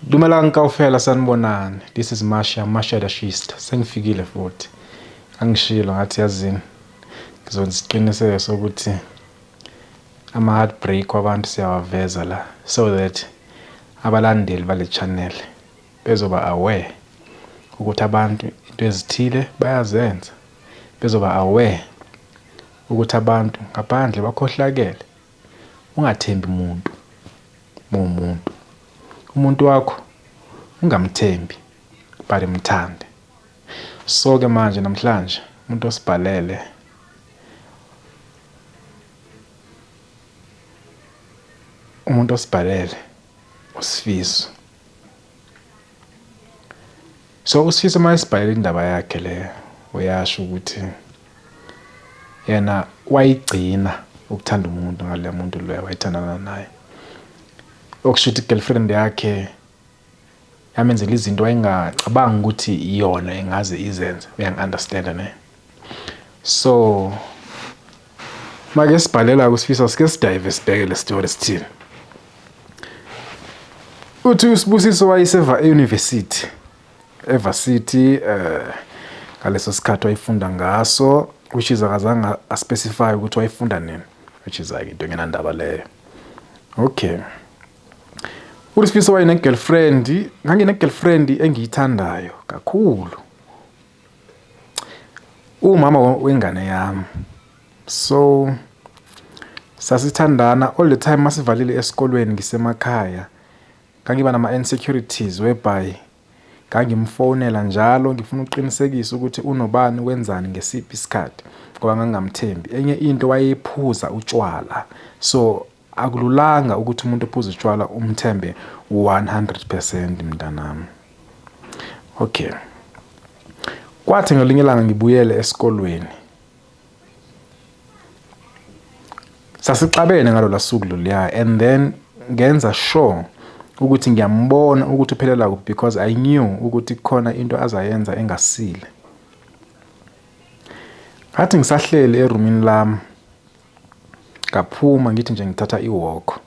Dumelang kaofela sanibonani. This is Masha, Masha the Shist. Sengifikile futhi. Angishilo ngathi yazini. Ngizonisiqiniseka sokuthi ama heartbreak wabantu siyawaveza la so that abalandeli bale channel bezoba aware ukuthi abantu into ezithile bayazenza. Bezoba aware ukuthi abantu ngaphandle bakhohlakele. Ungathembi muntu muwumuntu. Umuntu wakho ungamthembi but mthande. So ke manje namhlanje umuntu osibhalele umuntu osibhalele usifiso. So usifiso mayesibhalele indaba yakhe le uyasho ukuthi yena wayigcina ukuthanda umuntu ngale muntu loyo wayithandana naye okusho ukuthi girlfriend yakhe yamenzela izinto wayengacabanga ukuthi iyona engaze izenze uyangi-understand ne so make sibhalela kusifisa sike sidive sibheke le story sithini uthi usibusiso wayeseva e-university eVarsity eh ngaleso sikhathi wayifunda ngaso which is akazange aspecify ukuthi wayifunda nini which is like into engenandaba leyo okay uSifiso wayene girlfriend ngangine girlfriend engiyithandayo kakhulu umama wengane yami so sasithandana all the time masivalile esikolweni ngisemakhaya Ngangiba nama insecurities whereby ngangimfonela njalo ngifuna ukuqinisekisa ukuthi unobani wenzani ngesiphi isikhathi ngoba ngangingamthembi. Enye into wayephuza utshwala so akululanga ukuthi umuntu ophuza utshwala umthembe 100% mntanami. Okay. Kwathi ngelinye ilanga ngibuyele esikolweni. Sasixabene ngalola suku loluya and then ngenza sure ukuthi ngiyambona ukuthi uphelela kuphi because I knew ukuthi khona into azayenza engasile. Ngathi ngisahleli erumini lami ngaphuma ngithi nje ngithatha iwalk.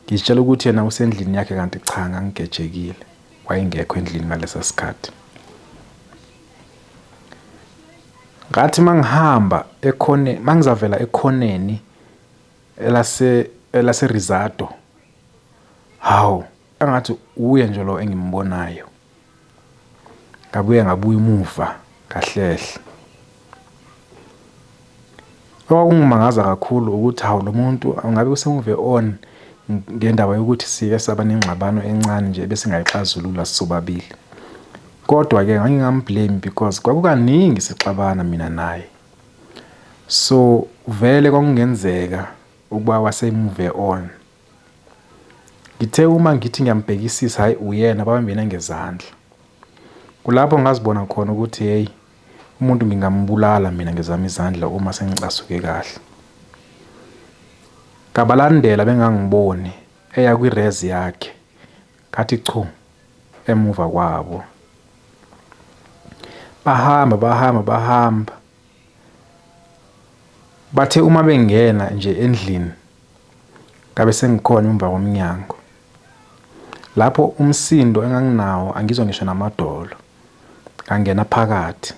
Ngizitshela ukuthi yena usendlini yakhe kanti cha ngangigejekile wayengekho endlini ngalesa sikhathi. Ngathi mangihamba ekhone mangizavela ekhoneni elase elase Rizado. Hawu engathi uye nje lo engimbonayo. Ngabuye ngabuya umuva ngahlehle. Okwakungimangaza kakhulu ukuthi hawu lo muntu angabe usemuve on ngendaba yokuthi sike saba nengxabano encane nje ebesingayixazulula sobabili. Kodwa-ke ngangingamblame because kwakukaningi sixabana mina naye. So vele kwakungenzeka ukuba wasemuve on. Ngithe uma ngithi ngiyambhekisisa hhayi uyena babambene ngezandla. Kulapho ngazibona khona ukuthi hheyi umuntu ngingambulala mina ngezami izandla uma sengicasuke kahle. Ngabalandela bengangiboni eya kwirezi yakhe ngathi chu emuva kwabo. Bahamba bahamba bahamba Bathe uma bengena nje endlini ngabe sengikhona emva komnyango. Lapho umsindo enganginawo angizwa ngisho namadolo. Ngangena phakathi.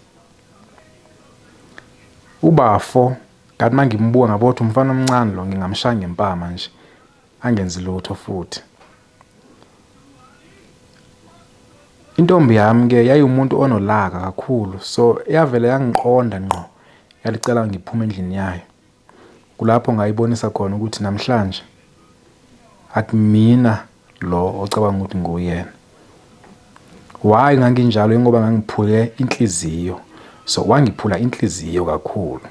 Ubafo kanti mangimbuka ngabona ukuthi umfana omncane lo ngingamshaya ngempama nje angenzi lutho futhi. Intombi yami ke yayiwumuntu onolaka kakhulu so yavele yangiqonda ngqo yalicela ngiphume endlini yayo kulapho ngayibonisa khona ukuthi namhlanje akumina lo ocabanga ukuthi nguyena why nganginjalo ingoba ngangiphuke inhliziyo so wangiphula inhliziyo kakhulu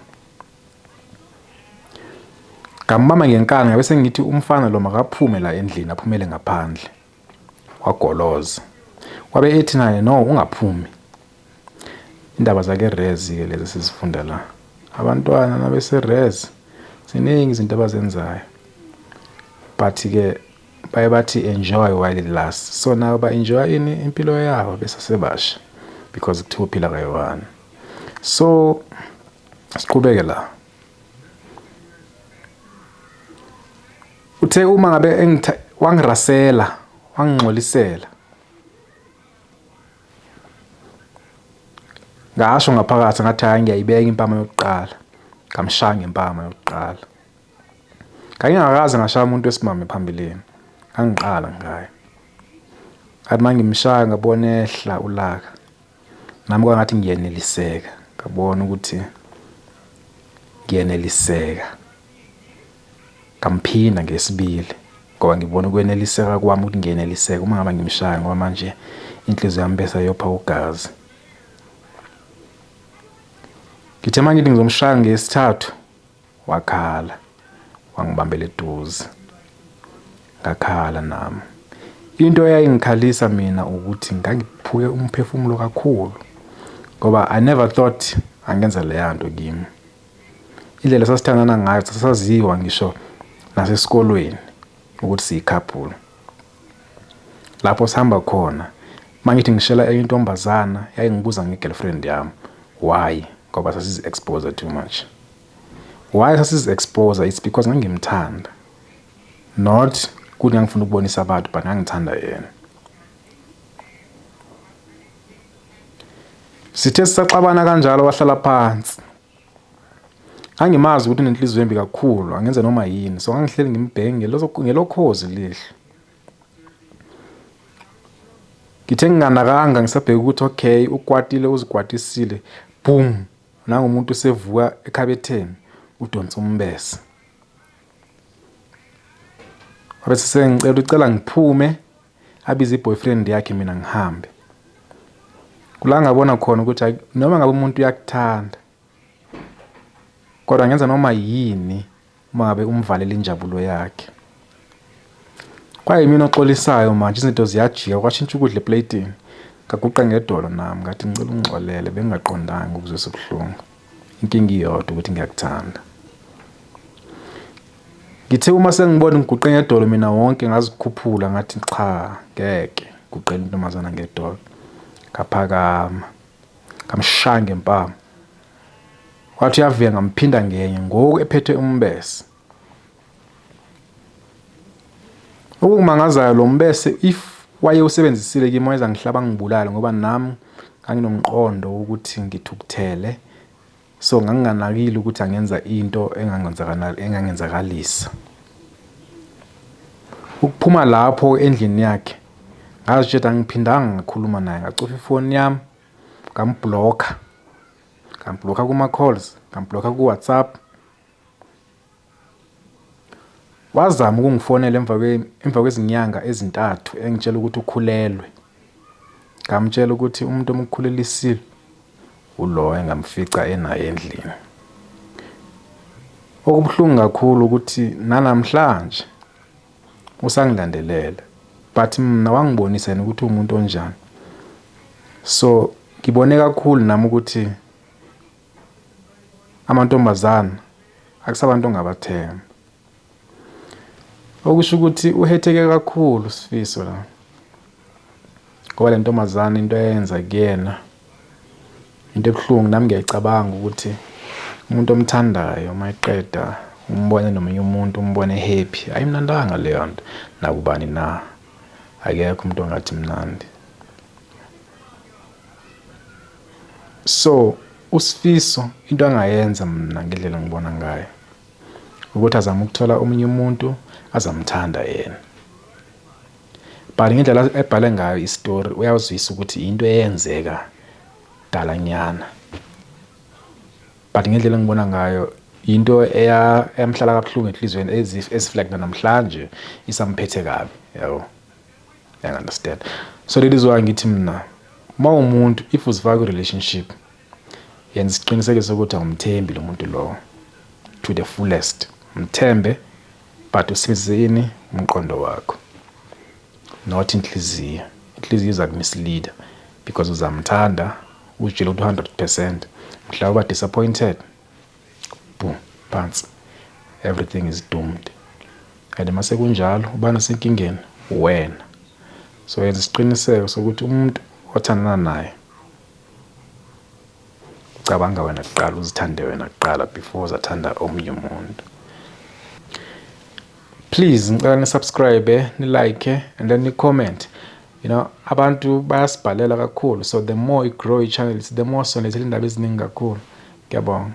Ngambamba ngenkani ngabe sengithi umfana lo makaphume la endlini aphumele ngaphandle. Wagoloza. Wabe ethi naye no ungaphumi. Indaba zake Rezi ke lezi sizifunda la. Abantwana nabese Rezi ziningi izinto abazenzayo. But ke baye bathi enjoy while it lasts. So nayo ba enjoy ini impilo yabo besasebasha because kuthiwa uphila kayi-one. So Siqhubeke la. Uthe uma ngabe engitha wangirasela, wangingxolisela. Ngasho ngaphakathi ngathi hayi ngiyayibeka impama yokuqala. Ngamshaya ngempama yokuqala. Ngangingakaze ngashaya umuntu wesimame phambilini. Ngangiqala ngaye. Ngathi mangimshaya ngabona ehla ulaka. Nami kwangathi ngiyeneliseka, ngabona ukuthi ngiyeneliseka. Ngamphinda ngesibili ngoba ngibona ukweneliseka kwami ukuthi ngiyeneliseka uma ngaba ngimshaya ngoba manje inhliziyo yami bese yopha ugazi. Ngithe uma ngithi ngizomshaya ngesithathu Wakhala, wangibambela eduze. Ngakhala nami. Into eyayingikhalisa mina ukuthi ngangiphuke umphefumulo kakhulu ngoba I never thought angenza leya nto kimi. Indlela sasithandana ngayo sasaziwa ngisho nasesikolweni ukuthi siyikhaphulo. Lapho sihamba khona mangithi ngishela enye intombazana yayingibuza nge-girlfriend yami. Why? Ngoba sasizi-expose too much. why sasizi expose it's because ngangimthanda not kuthi ngangifuna ukubonisa abantu but ngangithanda yena sithe sisaxabana kanjalo wahlala phansi angimazi ukuthi nenhliziyo embi kakhulu angenze noma yini so ngangihleli ngimbhenge ngelokhozi lihlo ngithe nginganakanga ngisabheka ukuthi okay ukwatile uzikwatisile boom Nangu umuntu usevuka ekhabetheni udonsa umbese. Wabe sesengicela ucela ngiphume abize i-boyfriend yakhe mina ngihambe. Kula ngabona khona ukuthi hayi noma ngabe umuntu uyakuthanda kodwa ngenza noma yini Uma ngabe umvalela injabulo yakhe. Kwayimina oxolisayo manje izinto ziyajika kwashintsha ukudla epleyitini. Ngaguqa ngedolo nami ngathi ngicela ungixolele bengingaqondanga ukuzwe sibuhlungu. Inkinga iyodwa ukuthi ngiyakuthanda. Ngithe uma sengibona ngiguqe ngedolo mina wonke ngazikhuphula ngathi cha ngeke guqela intombazana ngedolo. Ngaphakama ngamshaya ngempama Wathi uyavuya ngamphinda ngenye ngoku ephethe umbese. Okumangazayo lo mbese if waye usebenzisile kimi wayeza ngihlaba ngibulale ngoba nami nganginomqondo wokuthi ngithukuthele so nganginganakile ukuthi angenza into engangenzakalisa ukuphuma lapho endlini yakhe ngazitshela ngiphindanga ngakhuluma naye ngacofa ifoni yami ngambhulokha ngambhulokha kuma-calls ngambhulokha ku-whatsapp wazama ukungifonela emva emva kwezinyanga ezintathu engitshela ukuthi ukhulelwe ngamtshela ukuthi umuntu omukhulelisile ulo engamfica enaye endlini okubuhlungu kakhulu ukuthi nanamhlanje usangilandelela but mina wangibonisa yena ukuthi umuntu onjani so ngibone kakhulu nami ukuthi amantombazana akusabantu ongabathemba okusho ukuthi uhetheke kakhulu sifiso la ngoba le ntombazane into eyenza kuyena into ebuhlungu nami ngiyayicabanga ukuthi umuntu omthandayo uma eqeda umbone nomunye umuntu umbone happy ayimnandanga leyo nto nakubani na akekho umuntu ongathi mnandi so usifiso into angayenza mina ngendlela ngibona ngayo ukuthi azame ukuthola omunye umuntu azamthanda yena But ngendlela ebhale ngayo istory uyawuzwisa ukuthi yinto eyenzeka dalanyana. But ngendlela engibona ngayo yinto eyamhlala kabuhlungu enhlizweni as if as like namhlanje isamphethe kabi yabo. I understand. So that is why ngithi mina mawumuntu if uzifaka kwi relationship Yenza isiqinisekiso sokuthi awumthembi lo muntu lowo to the fullest. Mthembe but usebenzise yini umqondo wakho not inhliziyo. Inhliziyo iza kumisleader because uzamthanda uzitshela ukuthi 100% mhla uba disappointed boom phansi everything is doomed and uma sekunjalo ubani osenkingeni wena so yenza isiqiniseko sokuthi umuntu othandana naye Cabanga wena kuqala uzithande wena kuqala before uzathanda omunye umuntu. Please ngicela ni subscribe, ni like and then ni comment. You know abantu bayasibhalela kakhulu so the more you grow your channel the more sonethela indaba eziningi kakhulu. Ngiyabonga.